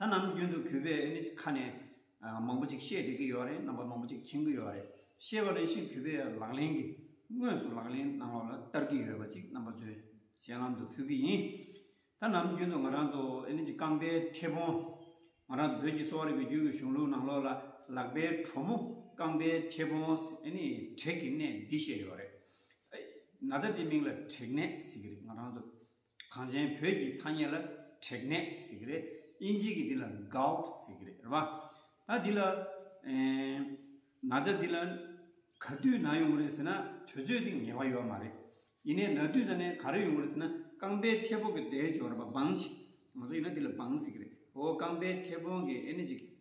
ད་ནམ་རྒྱུན་དུ་གུས་པས་ཨེ་ནི་ཁ་ནས་མང་པོ་ཅིག་བཤད་བསྡད་ཀྱི་ཡོད་རེད་རྣམ་པ་མང་པོ་ཅིག་མཁྱེན་གྱི་ཡོད་རེད་ཤེས་པ་རེ་བཞིན་གུས་པས་ལག་ལེན་གྱི་དངོས་སུ་ལག་ལེན་གནང་བ་ལ་བསྟར་གྱི་ཡོད་པ་ཅིག་རྣམ་པ་ཚོས་སྤྱན་ལམ་དུ་ཕུལ་གྱི་ཡིན། ད་ནམ་རྒྱུན་དུ་ང་རང་ཚོ་ཨེ་ནི་ཅི་རྐང་པའི་མཐེ་བོང། ང་རང་ཚོ་བོད་ཀྱི་གསོ་བ་རིག་པའི་རྒྱུད་ཀྱི་གཞུང་ལུགས་ནང་ལོགས་ལ་ལག་པའི་གྲོགས་མོ་རྐང་པའི་མཐེ་བོང་ཨེ་ནི་དྲེག་གི་ནད་འདི་བཤད་ཡོད་རེད། ན་ཚ་འདི་མིང་ལ་དྲེག་ནད་ཟེར་གྱི་རེད་ང་རང་ཚོ་གངས་ཅན་བོད་ཀྱི་ཐ་སྙད་ལ་དྲེག་ནད་ཟེར་གྱི་རེད། དབྱིན་ཇི་གི་འདི་ལ Gout ཟེར་གྱི་རེད་རེད་བ། ད་འདི་ལ་ན་བཟའ་འདི་ལ་ག་དུས་ན་ཡོང་གི་རེད་ཟེར་ན་དུས་ཚོད་དེ་ངེས་པ་ཡོད་མ་རེད། ཡིན་ནས་ན་དུས་ཟ་ནས་ག་རེ་ཡོང་གི་རེད་ཟེར་ན་རྐང་པའི་མཐེ་བོང་གི་དལ་འབྱོར་བ་སྦངས་ཅིག། ང་ཚོ་ཡིན་ན་འདི་ལ་སྦངས་ཟེར་གྱི་རེད། ཨོ་རྐང་པའི་མཐེ་བོང་གི་ཨེ་ནི་ཅིག་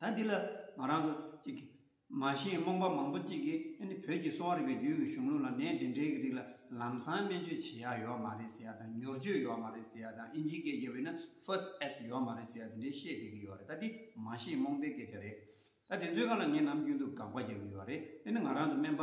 ད་འདི་ལ་ང་རང་ཚོ་གཅིག་གིས་མ་ཤེས་རྨོངས་པ་མང་པོ་གཅིག་གིས་ཨ་ནི་བོད་ཀྱི་གསོ་བ་རིག་པའི་རྒྱུད་ཀྱི་གཞུང་ལུགས་ལ་ནད་དེ་འདྲའི་གི་རིགས་ལ་ལམ་སང་སྨན་བཅོས་བྱེད་ཡག་ཡོད་མ་རེད་ཟེར་ཡག་དང་མྱུར་བཅོས་ཡོད་མ་རེད་ཟེར་ཡག་དང་ཨིན་ཇིའི་སྐད་རྒྱབ་ཡོད་ན First Aids ཡོད་མ་རེད་ཟེར་ཡག་དེ་འདྲའི་བཤད་བསྡད་གི་ཡོད་རེད་ད་འདི་མ་ཤེས་རྨོངས་པའི་སྐད་ཆ་རེད། ད་དེ་ཚོའི་ཁ་ལ་ངས་ནམ་རྒྱུན་དུ་དགག་པ་རྒྱག་གི་ཡོད་རེད་ཨ་ནི་ང་རང་ཚོ་སྨན་པ་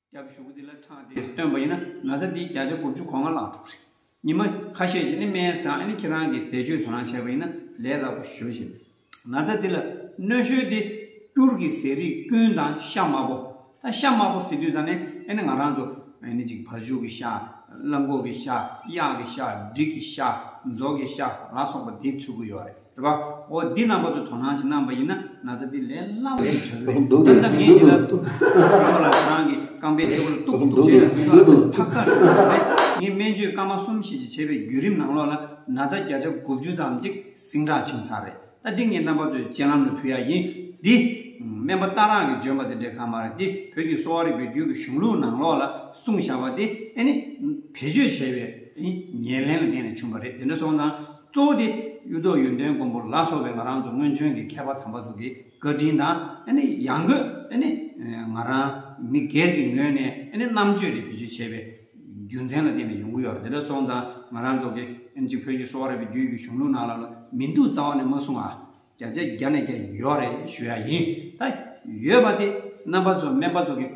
སྐྱབས་བཞུགས་དེ་ལ་འཕྲང་དེ་སྟོན་པ་ཡིན་ན་ན་ཚ་འདིའི་བརྒྱ་ཆ་དགུ་བཅུ་གོ་ལྔ་བླངས་འགྲོ་གི་རེད། ཉི་མ་ཁ་ཤས་ཀྱིས་ནི་སྨན་བཟང་ཨ་ནི་ཁྱེད་རང་གིས་ཟས་སྤྱོད་དོ་སྣང་བྱས་པ་ཡིན་ན་ལས་སླ་པོ་ཞུ་བཞིན་ན་ཚ་འདི་ལ་གནོད་ཤོས་དེ་སྐྱུར་གྱི་ཟས་རིགས་ཀུན་དང་ཤ་དམར་པོ་དང་ཤ་དམར་པོ་ཟེར་དུས་ཙང་ནས་ཨ་ནི་ང་རང་ཚོ་ཨ་ནི་ཅིག་བ་ཕྱུགས་ཀྱི་ཤ་གླང་གོག་གི་ཤ་གཡག་གི་ཤ་འབྲིག་གི་ཤ་རྫོགས་ཀྱི་ཤ་ལ་སོགས་པ་དེ་འཚོལ་གི་ཡོད་རེད། དྲི་བ། འོ་འདི་རྣམ་པ་ཚོ་དོ་སྣང་བྱེད་གནང་བ་ཡིན་ན་ན་ཚ་འདི་ལས་སླ་བོ་ཞིག་བྱ་དགོས་རེད་ད་ལྟ་ངས་འདི་ལྟར་ཐུག་ཐུག་ལ་ང་རང་གི་རྐང་པའི་སྟེགས་བུ་ལ་གཏུག་གཏུག་བྱས་ན་མི་ལོ་ལྔ་ཕག་ཚག་ཞུགས་ཀྱི་རེད་ངས་སྨན་བཅོས་སྐར་མ་གསུམ་བཞི་བཅས་བྱས་པའི་བརྒྱུད་རིམ་ནང་ལོགས་ལ་ན་ཚ་བརྒྱ་ཆ་དགུ་བཅུ་ཙམ་ཅིག་ཟིང་དྲག་ཕྱིན་ཚར་རེད་ད་འདི་ངས་རྣམ་པ་ཚོའི་སྤྱན་ལམ་ལ་ཕུལ་ཡག་ཡིན་འདི། སྨན་པ་རྟ་རག་གི་འཇོན་པ་དེ་འདྲའི་གང་མ་རེད་འདི་བོད་ཀྱི་གསོ་བ་རིག་པའི་རྒྱུད་ཀྱི་གཞུང་ལུགས་ནང་ལོགས་ལ་གསུངས་བཞག་པ་དེ་ཨེ་ནི། བེད་སྤྱོད་བྱས་པའི་ཉེར་ལེན་ལ་བརྟེན་ནས་བྱུང་བ་རེད་དེ་འདྲ་སོང་ཙང། གཙོ་བོ་དེ། གཡུ་ཐོག་ཡོན་ཏན་མགོན་པོ་ལ་སོགས་པའི་ང་རང་ཚོ་སྔོན་བྱོན་གྱི་མཁས་པ་དམ་པ་ཚོ་གི་བཀའ་དྲིན་དང་ཡང་སྒོས་ང་རང་མི་སྒེར་གྱི་ངོས་ནས་རྣམ་དཔྱོད་དེ་བེད་སྤྱོད་བྱས་པའི་རྒྱུ་མཚན་ལ་བརྟེན་ནས་ཡོང་གི་ཡོད་རེད་དེ་འདྲ་སོང་ཙང་ང་རང་ཚོ་གི་བོད་ཀྱི་གསོ་བ་རིག་པའི་རྒྱུད་ཀྱི་གཞུང་ལུགས་ནང་ལ་མི་འདུག་རྩ་བ་ནས་མ་གསུང་ཨ། བརྒྱ་ཆའི་བརྒྱ་ནས་བརྒྱ་ཡོད་རེད་ཞུ་ཡག་ཡིན་ད། ཡོད་པ་དེ་རྣམ་པ་ཚོ་སྨན་པ་ཚོ་གི་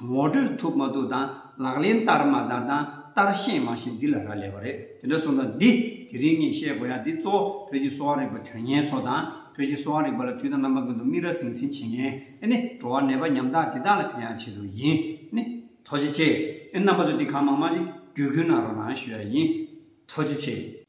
ངོ་སྤྲོད་ཐུབ་མ་ཐུབ་དང་ལག་ལེན་བསྟར་མ་བསྟར་དང་བསྟར་ཤེས་མ་ཤེས་འདི་ལ་རག་ལས་པ་རེད་དེ་འདྲ་སོང་ཙང་འདི་དེ་རིང་ངས་བཤད་དགོས་ཡག་འདི་གཙོ་བོ་བོད་ཀྱི་གསོ་བ་རིག་པ་དོན་གཉེར་ཚོ་དང་བོད་ཀྱི་གསོ་བ་རིག་པ་ལ་དུས་དང་རྣམ་པ་ཀུན་ཏུ་མིག་ར་ཟིང་ཟིང་བྱེད་མཁན་ཨེ་ནི་འགྲོ་བ་ནད་པ་ཉམ་ཐག་འདི་དག་ལ་ཕན་ཡག་ཆེ་ཟུར་ཡིན་ཨེ་ནི་ཐོ་ཇེ་ཆེ་ཨེ་རྣམ་པ་ཚོ་འདི་གང་མང་མང་ཞིག་བརྒྱུད་བསྐུལ་གནང་རོགས་གནང་ཞུ་ཡག་ཡིན་ཐོ་ཇེ་ཆེ།